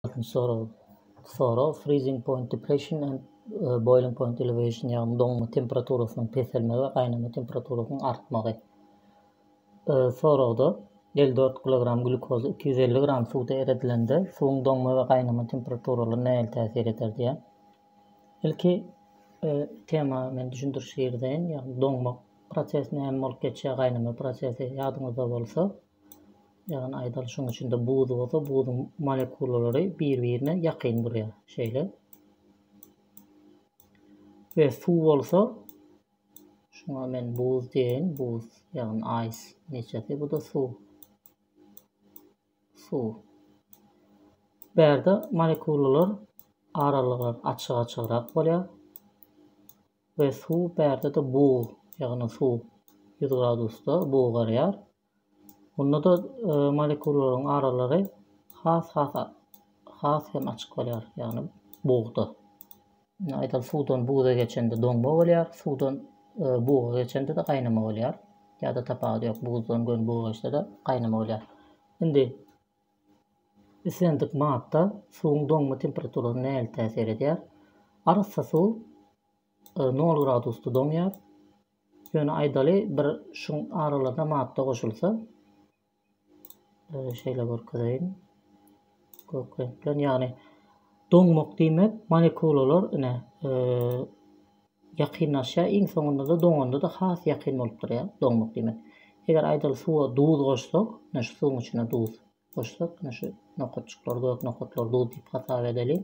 Altmyş sorag. Sorag, Freezing point depression and boiling point elevation, ýagny doňma temperaturasynyň peselmegi we gaýnama temperaturasynyň artmagy. Soragda, elli dört kilogram glýukoz iki ýüz elli gram suwda eredilende, suwuň doňma we gaýnama temperaturalary nähili täsir eder diýýär. Ilki tema men düşündiriş girizäýin, ýagny doňmak prosesi näme bolup geçýär, gaýnama prosesi ýadyňyzda bolsa, Ýagny aýdalyşyň içinde buz bolsa, buzuň molekulalary bir-birine ýakyn durýar. Şeýle. Ve suw bolsa, şuňa men buz diýeýin, buz, ýagny aýs neçesi, bu-da suw. Suw. Bärde molekulalar aralygy açyk-açygrak bolýar. We suw bärde-de bug, ýagny suw ýüz gradusda bugarýar. Onda-da molekullaryň aralary has-has has hem açyk bolýar, ýagny bugda. Aýdaly suwdan buga geçende doňma bolýar, suwdan buga geçende-de gaýnama bolýar. Ýa-da tapawudy ýok, buzdan göni buga geçse-de gaýnama bolýar. Indi Islendik madda suwuň doňma temperaturasyna nähili täsir edýär? Arassa suw nol gradusda doňýar. Ýöne aýdaly bir şuň aralygyna madda goşulsa, şeýle görkezeýin. Gök reňk bilen, ýagny doňmak diýmek molekulalar ine Ýakynlaşýar, iň soňunda-da doňanda-da has ýakyn bolup durýar. Doňmak diýmek. Eger aýdaly suwa duz goşsak, ine şu suwuň içine duz goşsak, ine şu nokatjyklary, gök nokatlary duz diýip hasap edeliň.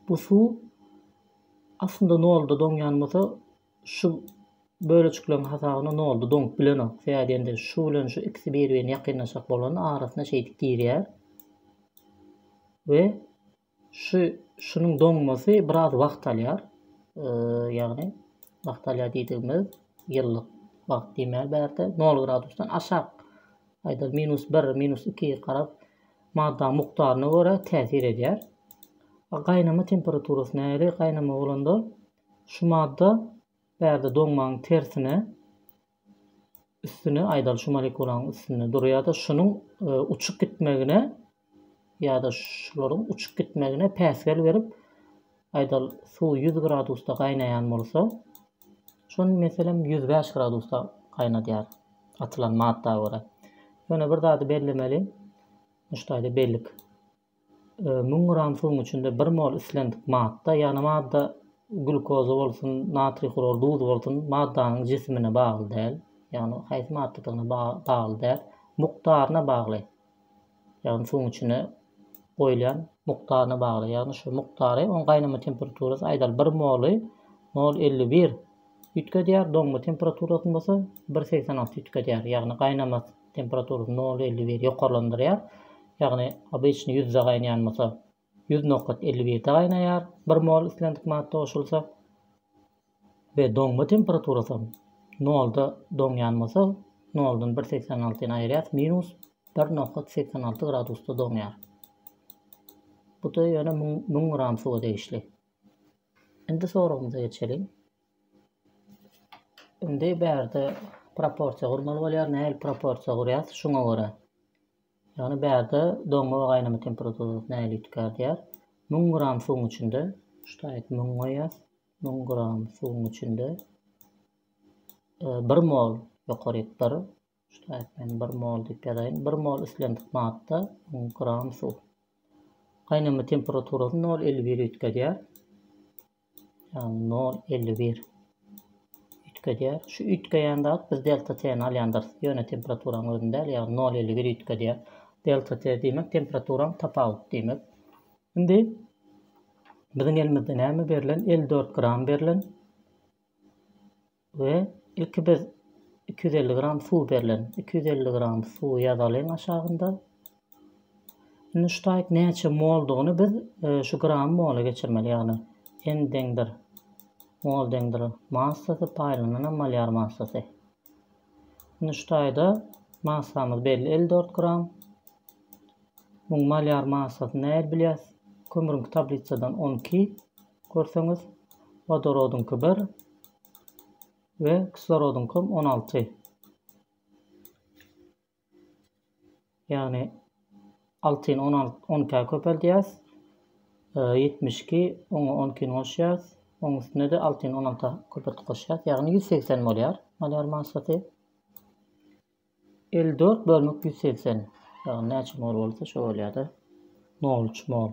Bu suw aslynda nolda doňýan bolsa, şu bölejikleň hasabyna nolda doňup bilenok. Sebäbi diýende şu bilen şu ikisi bir-birine ýakynlaşjak bolanda arasyna şeýdip girýär we Şu şunuň doňmasy biraz wagt alýar. Ýagny wagt alýar diýdigimiz ýyllyk wagt diýmäli bärde 0 gradusdan aşak aýda minus 1, minus 2 garap madda mukdaryna görä täsir edýär. Gaýnama temperaturasy nähili? Gaýnama bolanda şu madda bärde doňmagyň tersine üstüne aýdaly şu molekulaň üstünde dur ýa-da şunuň e, uçup gitmegine ýa-da şularyň uçup gitmegine päsgel berip aýdaly suw 100 gradusda gaýnaýan bolsa şony meselem 105 gradusda gaýnadýar atylan madda görä. Ýöne bir zady bellemeli. Muşdaýda bellik. Müň gram suwuň içinde bir mol islendik madda, ýagny madda glýukoza bolsun, natriý hlor duz bolsun, maddanyň jisimine bagly däl, ýagny haýsy maddadygyna bagly däl, mukdaryna bagly, ýagny suwuň içine goýulýan mukdaryna bagly, ýagny şu mukdary oň gaýnama temperaturasy aýdaly bir moly nol elli bir üýtgedýär, doňma temperaturasyny bolsa bir segsen alty üýtgedýär, ýagny gaýnamasy. Temperaturyny nol elli bir ýokarlandyrýar. Ýagny obyçny ýüzde gaýnaýan bolsa ýüz nokat elli birde gaýnaýar bir mol islendik madda goşulsa we doňma temperaturasy nolda doňýan bolsa noldan bir segsen altyny aýyrýas minus bir nokat segsen alty gradusda doňýar. Bu da ýöne müň gram suwa degişli. Indi soragymyza geçeliň. Indi bärde proporsiýa gurmaly bolýar. Nähili proporsiýa gurýas? Şuňa görä. Ýagny bärde doňma we gaýnama temperaturasy nähili üýtgär diýär. 1000 gram suwuň içinde ştaýt 1000 goýýas. 1000 gram suwuň içinde 1 e, mol ýokary 1 Ştaýpleýin bir mol diýip ýazaýyn. Bir mol islendik madda, gram suw. Gaýnama temperaturasy nol elli biri üýtgedýär. Ýagny nol elli bir üýtgedýär. Şu üýtgeýän zat biz delta t-ni alýandyrys. Ýöne temperaturanyň özüni däl, ýagny nol elli bir üýtgedýär. Delta t diýmek temperaturaň tapawudy diýmek. Indi biziň elimizde näme berlen? Elli dört gram berlen. We ilki biz iki ýüz elli gram suw berlen iki ýüz elli gram suwy ýazalyň aşagynda. Indi şu taýt näçe moldygyny biz e, şu gram mola geçirmeli ýagny n deňdir mol deňdir massasy paýlanana malýar massasy. Indi şu taýda massamyz belli 54 gram. Muň malýar massasyny näil bilýäs? Kömürüňki tablisadan 12. Görseňiz, wodorodyňky bir we kislorodyňkam on alty. Ýagny altyny on alt on ikä köpeldýäs. Ýetmiş iki oňa on ikini goşýas. Oň üstüne-de altyny on alta köpeltip goşýas. Ýagny ýüz segsen bolýar malýar massasy. Elli dört bölmek ýüz segsen. Ýagny näçe mol bolsa şo bolýar-da. Nol üç mol.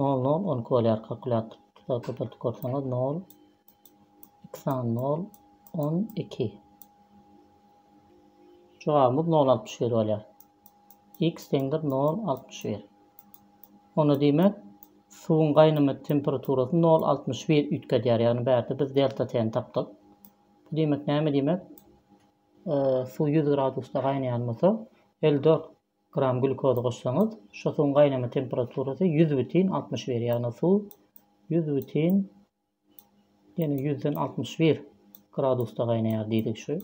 Nol nol on iki bolýar kalkulýator tuta köpeltip görseňiz nol iki sany nol on iki jogabymyz nol altmyş bir bolýar x deňdir nol altmyş bir onda diýmek suwuň gaýnama temperaturasy nol altmyş bir üýtgedýär ýagny bärde biz delta t-ni tapdyk bu diýmek näme diýmek suw ýüz gradusda gaýnaýan bolsa elli dört Gram glýukozy goşsaňyz, şu suwuň gaýnama temperaturasy ýüz bütin altmyş bir, ýagny suw ýüz bütin, ýene ýüzden altmyş bir gradusda gaýnaýar diýdik şu.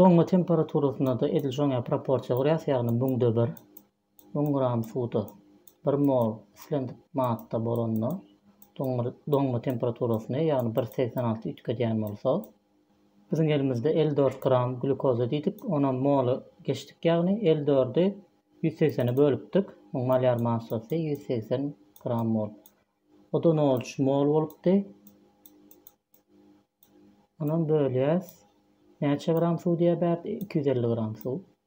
Doňma temperaturasynda-da edil şoňa proporsiýa gurýas, ýagny müňde bir. Müň gram suwda bir mol islendik madda bolanda, doňma temperaturasyny, ýagny bir segsen alty üýtgedýän bolsa, biziň elimizde elli dört gram glýukoza diýdik, onam moly geçdik, ýagny elli dördi ýüz segsene bölüpdik, muň malýar massasy ýüz segsen gram mol. O-da nol üç mol bolupdy. Onam bölýäs. Näçe gram suw diýýär bärde? Iki ýüz elli gram suw.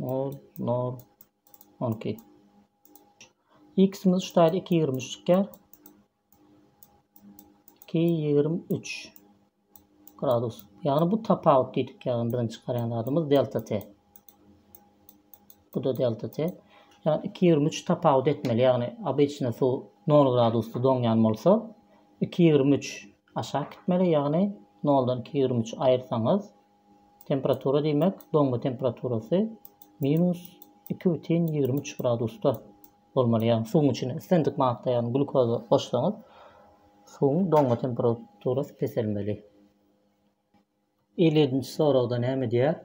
Nol, nol, on iki. X-imiz şu taýda iki ýigrimi üç çykýar. Iki ýigrimi üç gradus. Ýagny bu tapawut diýdik ýagny biziň çykarýan zadymyz delta t. Bu da delta t. Ýagny iki ýigrimi üç tapawut etmeli. Ýagny obyçny suw nol gradusda doňýan bolsa, iki ýigrimi üç aşak gitmeli. Ýagny noldan iki ýigrimi üç aýyrsaňyz, Temperatura diýmek, doňma temperaturasy minus iki bütin ýigrimi üç gradusda bolmaly. Ýagny suwuň içine islendik madda, ýagny glukoza goşsaňyz, suwuň doňma temperaturasy peselmeli. Elliýedinji soragda näme diýýär?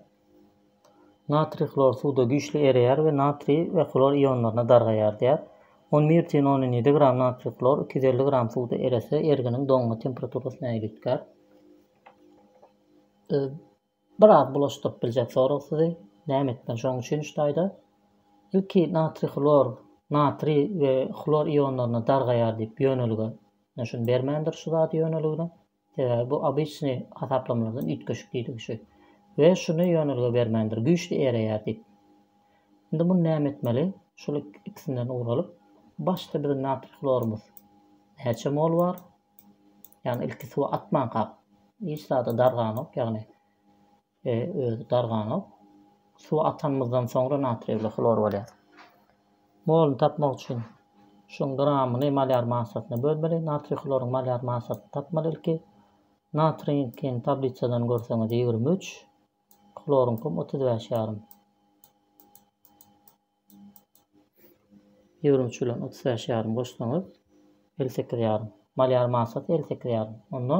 Natriý hlor suwda güýçli ereýär we natriý we hlor ionlaryna dargaýar diýýär. On bir bütin ondan ýedi gram natriý hlor iki ýüz elli gram suwda erese, erginiň doňma temperaturasyny äýlitgär. Biraz bulaşdyryp biljek sorag sizi. Näme etmeli şoň üçin üç taýda? Ilki natriý hlor, natriý we hlor ionlaryna dargaýar diýip ýönelige şuny bermändir şu zady ýöneligine. Sebäbi bu obyçnyý hasaplamalardan üýtgeşik diýdigi şu. We şuny ýönelige bermändir güýçli ereýär diýip. Indi muny näme etmeli? Şuly ikisinden ugur alyp başda biziň natriý hlorumyz näçe mol bar? Ýagny ilki suwa atmankak hiç zada darganok, ýagny özi darganok. Suwa atanymyzdan soňra natriýewli hlor bolýar. Moluny tapmak üçin şuň gramyny malýar massasyna bölmeli. Natriý hloryň malýar massasyny tapmaly ilki. Natriýiňkiň tablisadan görseňiz ýigrimi üç, hloryňkym otuz bäş ýarym. Ýüwrüm çüwlem otuz bäş ýarym goşsaňyz, elli sekiz ýarym. Mal ýarym masasy elli sekiz ýarym. Onda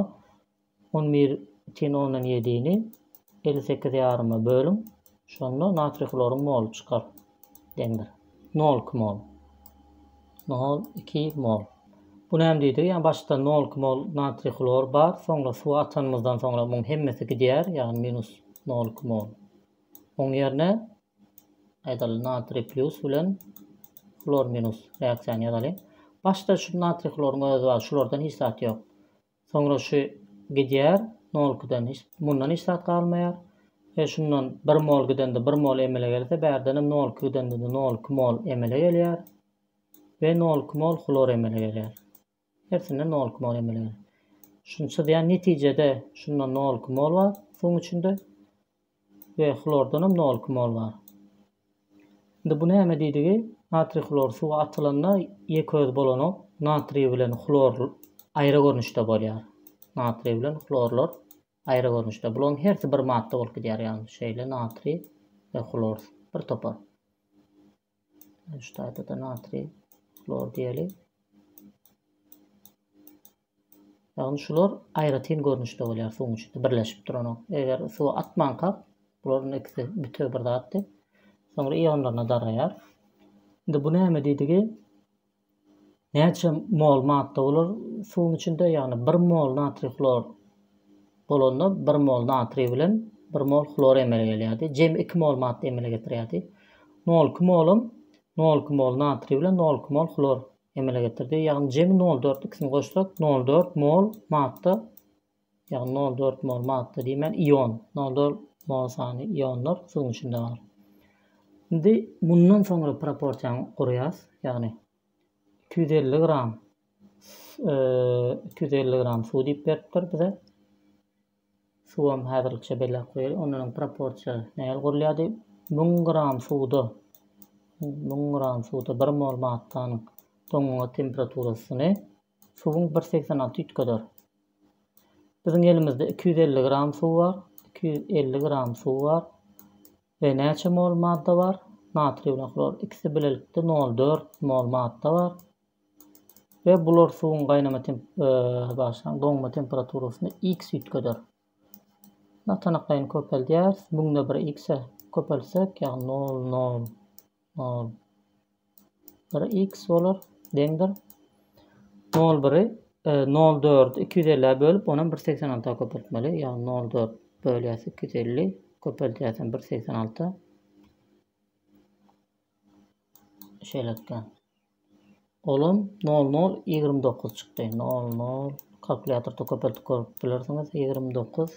on bir tiň ondan ýedini elli sekiz ýaryma bölüň. Şonda natriý hloryň moly çykar. Deňdir. Nol iki mol. Nol iki mol. Bu näme diýdigi? Ýa başda nol iki mol natriý hlor bar, soňra suwa atanymyzdan soňra muň hemmesi gidýär, ýagny minus nol iki mol. Oň ýerine Aýdaly natriý pýus bilen hlor minus reaksiýany ýazaly. Başda şu natriý hloryň özi bar, şulardan hiç zat ýok. Soňra şu gidýär, nolkydan hiç, mundan hiç zat galmaýar. E şundan 1 mol gidende 1 mol emele gelse, bärdenem nolky gidende-de nolky mol emele gelýär we nolky mol hlor emele gelýär. Hersinde nolik mol emeleýär. Şuny çyzýan netijede şunda nolik mol bar suwuň içinde we hlordan hem nolik mol bar. Indi bu näme diýdigi? Natriý hlor suwa atylanda ýeköz bolanok. Natriý bilen hlor aýry görnüşde bolýar. Natriý bilen hlorlar aýry görnüşde. Bularyň hersi bir madda bolup gidýär, ýagny şeýle natriý we hlor bir topar. Üç taýda-da natriý hlor diýeli. Ýagny şular aýratyn görnüşde bolýar suwuň içinde birleşip duran. Eger suwa atmanka bularyň ikisi bütew bir zatdy. Soňra ionlaryna daraýar. Indi bu näme diýdigi? Näçe mol madda bolar suwuň içinde? Ýagny bir mol natriý hlor bolanda bir mol natriý bilen bir mol hlor emele gelýärdi. Jemi iki mol madda emele getirýärdi. Nol iki molum nol iki mol natriý bilen nol iki mol hlor emele getirdi. Ýagny jemi nol dört ikisini goşsak nol dört mol madda Ýagny nol dört mol madda diýmän ion, nol dört mol sany ionlar suwuň içinde bar. Indi mundan soňra proporsiýany gurýas, ýagny iki ýüz elli gram iki ýüz elli gram suw diýip beripdir bize. Suwam häzirlikçe belläp goýaly. Ondan proporsiýa nähili gurulýar diýip, 1000 gram suwda 1000 gram suwda 1 mol maddanyň doňňa temperaturasyny Suwuň bir segsen alty üýtgeder. Biziň elimizde iki ýüz elli gram suw bar, iki ýüz elli gram suw bar we näçe mol madda bar? Natriý bilen hlor ikisi bilelikde nol dört mol madda bar we bular suwuň gaýnama temp, bagşlaň, doňma temperaturasyny x üýtgeder. Ýa tanyklaýyny köpeldýäris, müňde bir x-e köpeltsek, ýagny nol nol Nol bir x bolar deňdir. Nol biri e, nol dördi iki ýüz ellä bölüp, onam bir segsen alta köpeltmeli. Ýagny nol dört bölýäs iki ýüz elli, köpeltýäsem bir segsen alta. Şeýlelikde. Olam nol nol ýigrimi dokuz çykdy. Nol nol kalkulýatorda köpeltip görüp bilersiňiz. Ýigrimi dokuz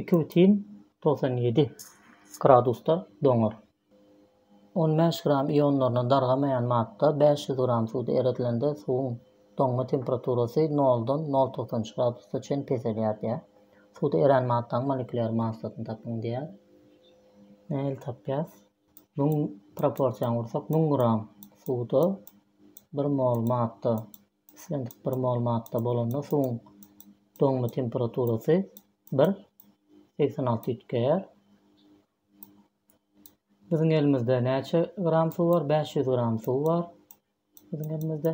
Iki bütin togsan ýedi gradusda doňar. On bäş gram ionlaryny dargamaýan madda bäş ýüz gram suwda eredilende suwuň doňma temperaturasy noldan nol togsan üç gradusa çen peselýär diýýär. Suwda erän maddanyň molekulýar massasyny tapyň diýýär. Nähili tapýas? Müň proporsiýany ursak, müň gram suwda bir mol madda Islendik bir mol madda bolanda suwuň doňma temperaturasy bir segsen alty üýtgeýär. Biziň elimizde näçe gram suw bar? 500 gram suw bar. Biziň elimizde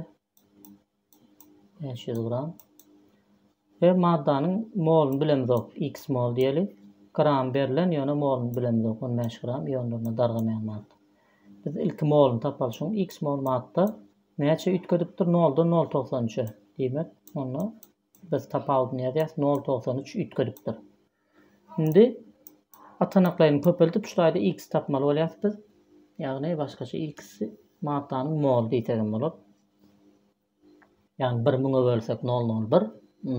500 gram. Ve maddanyň molunu bilemizok. X mol diýeli. Gram berlen, ýöne molunu bilemizok. 15 gram ýonlaryna dargamaýan madda. Biz ilki molunu tapaly. Şoň X mol madda Näçe üýtgedipdir noldan nol togsan üçe? Diýmek, onda biz tapawudyny ýazýarys, nol togsan üç üýtgedipdir. Indi atanaklaýyny köpeldip, şu taýda x tapmaly bolýarys biz. Ýagny başgaça x-i maddanyň moly diýsek hem bolar. Ýagny bir müňe bölsek nol nol bir,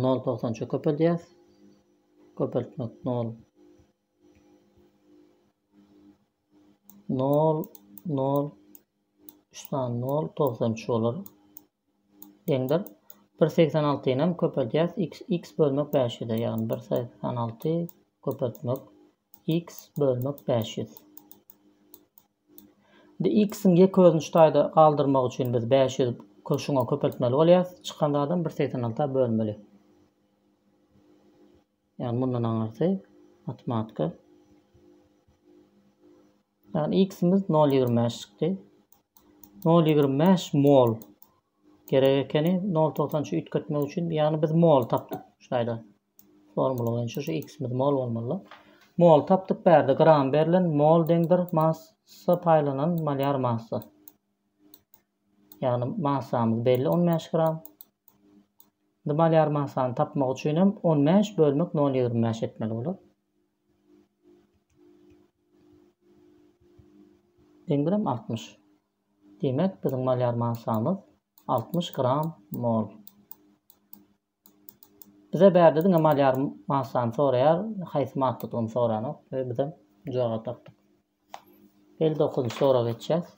nol togsan üçe köpeldýäris. Köpeltmek nol Nol, nol, üç sany nol, togsan üç bolar. Deňdir. Bir segsen altyny hem köpeldýäs. X, X bölmek bäş ýüze, ýagny bir segsen alty köpeltmek X bölmek bäş ýüz. Indi X-iň ýek özüni şu taýda galdyrmak üçin biz bäş ýüz köşüňe köpeltmeli bolýarys. Çykan zadam bir segsen alta bölmeli. Ýagny mundan aňyrsy matematika. Ýagny x-imiz nol ýigrimi bäş çykdy. Nol ýigrimi bäş mol gerek ekeni. Nol togsan üçi üýtgetmek üçin ýagny biz mol tapdyk şu taýda. Formula boýunça şu x-imiz mol bolmaly. Mol tapdyk bärde gram berlen mol deňdir massa paýlanan malýar massa. Ýagny massamyz belli on bäş gram. Indi malýar massany tapmak üçin hem on bäş bölmek nol ýigrimi bäş etmeli bolar. Deň bilen altmyş. Diýmek, biziň malýar massamyz altmyş gram mol. Bize bärde diňe malýar massany soraýar, haýsy maddadygyny soranok we bizem jogap tapdyk. Elli dokuzynjy soraga geçýäs.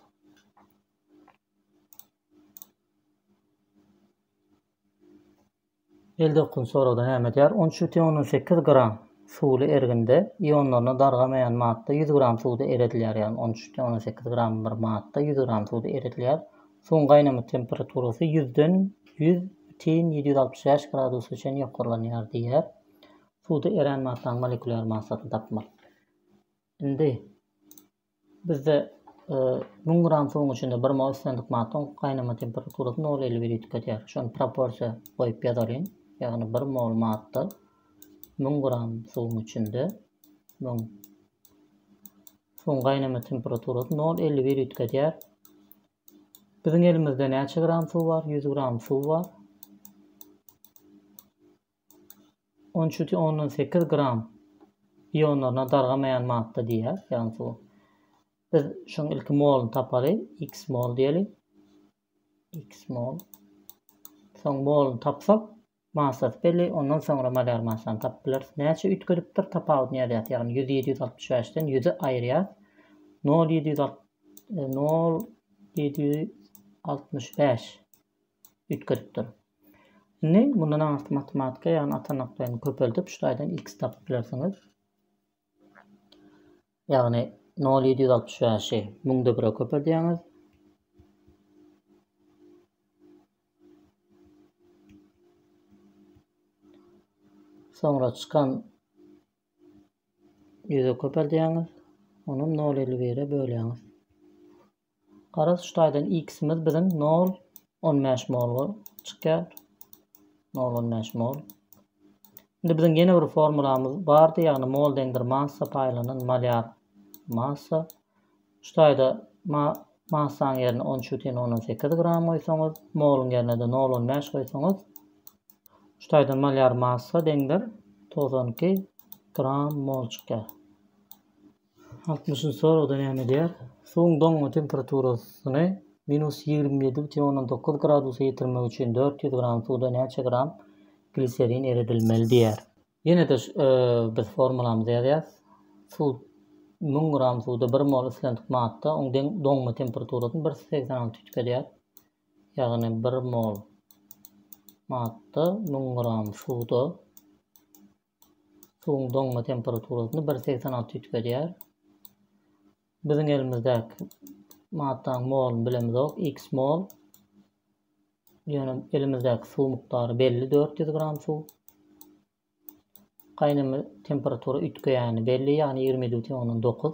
Elli dokuzynjy soragda näme diýýär? On üç bütin ondan sekiz gram suwly erginde ionlaryna dargamaýan madda ýüz gram suwda eredilýär, ýagny on üç bütin ondan sekiz gram bir madda ýüz gram suwda eredilýär. Suwuň gaýnama temperaturasy ýüzden ýüz bütin ýedi ýüz altmyş bäş gradusa çenli ýokarlanýar diýýär. Suwda erän massaň molekulýar massasyny tapmaly. Indi bizde e, müň gram suwuň içinde bir mol islendik maddaň gaýnama temperaturasy nol elli biri tüketýär. Şony proporsiýa goýup ýazalyň. Ýagny bir mol madda müň gram suwuň içinde müň Suwuň gaýnama temperaturasy nol elli biri üýtgedýär. Biziň elimizde näçe gram suw bar? 100 gram suw bar. 13,8 gram ionlaryna dargamaýan madda diýýär, ýagny suw. Biz şuň ilki moluny tapaly, x mol diýeli. x mol. Soň moluny tapsak, Maslaty belli, ondan soňra malýar maslasyny tapyp bileris. Näçe üýtgedipdir, tapawudyny ýazýas, ýagny ýüzi ýedi ýüz altmyş bäşden ýüzi aýyrýas, nol ýedi ýüz alt, nol ýedi ýüz altmyş bäş üýtgedipdir. Indi mundan aňyrky matematika, ýagny atanaklaryny köpeldip, şuraýdan x tapyp bilersiňiz. Ýagny nol ýedi ýüz altmyş bäşi müňde bire köpeldýäňiz. Soňra çykan ýüze köpeldýäňiz. Onam nol elli bire bölýäňiz. Garaz şu taýdan x-imiz biziň nol on bäş mol çykýar. Nol on bäş mol. Indi biziň ýene bir formulamyz bardy, ýagny mol deňdir massa paýlanan malýar massa. Şu taýda massaň ýerine on üçi teň ondan sekiz gram goýsaňyz, moluň ýerine-de nol on bäş goýsaňyz, şu taýdan malýar massa deňdir togsan iki gram mol çykýar. Altmyş nji soragda näme edýär? Suwuň doňma temperaturasyny minus ýigrimi ýedi bütin ondan dokuz gradusa ýetirmek üçin dört ýüz gram suwda näçe gram gliserin eredilmeli diýýär. Ýene-de biz formulamyzy ýazýarys. Suw müň gram suwda bir mol islendik madda, oň deň doňma temperaturasyny bir ýüz segsen alty tüýk edýär. Ýagny bir mol madda müň gram suwda Suwuň doňma temperaturasyny bir segsen alty üýtgedýär. Biziň elimizdäki maddanyň moluny bilemizok, x mol. Ýöne elimizdäki suw mukdary belli 400 gram suw. Gaýnama temperatura üýtgeýäni belli, ýagny 27,9.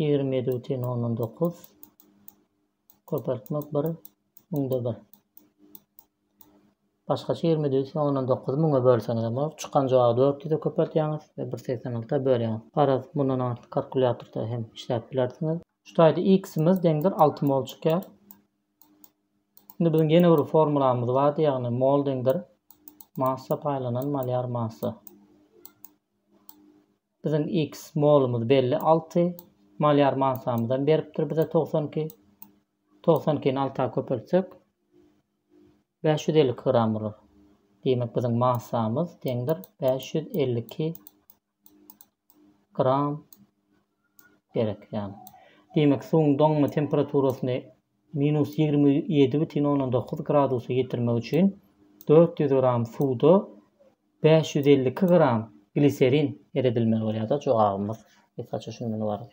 Ýigrimi ýedi bütin ondan dokuz köpeltmek bir müňde bir. Başgaça ýigrimi ýedi bütin ondan dokuzy müňe bölseňizem bolar. Çykan jogaby dört ýüze köpeltýäňiz we bir segsen alta bölýäňiz. Garaz, mundan artyk kalkulýatorda hem işläp bilersiňiz. Şu taýda x-imiz deňdir alty mol çykýar. Indi biziň ýene bir formulamyz bardy, ýagny mol deňdir massa paýlanan malýar massa. Biziň X molumyz belli alty. Malýar mansamyzam beripdir bize togsan iki. Togsan ikini alta köpeltsek bäş ýüz elli iki gram bolar. Diýmek biziň massamyz deňdir bäş ýüz elli iki gram gerek ýaly. Diýmek suwuň doňma temperaturasyny minus ýigrimi ýedi bütin ondan dokuz gradusa ýetirmek üçin dört ýüz gram suwda Bäş ýüz elli iki gram gliserin eredilmeli bolýar-da jogabymyz. Gysgaça şundan ybarat.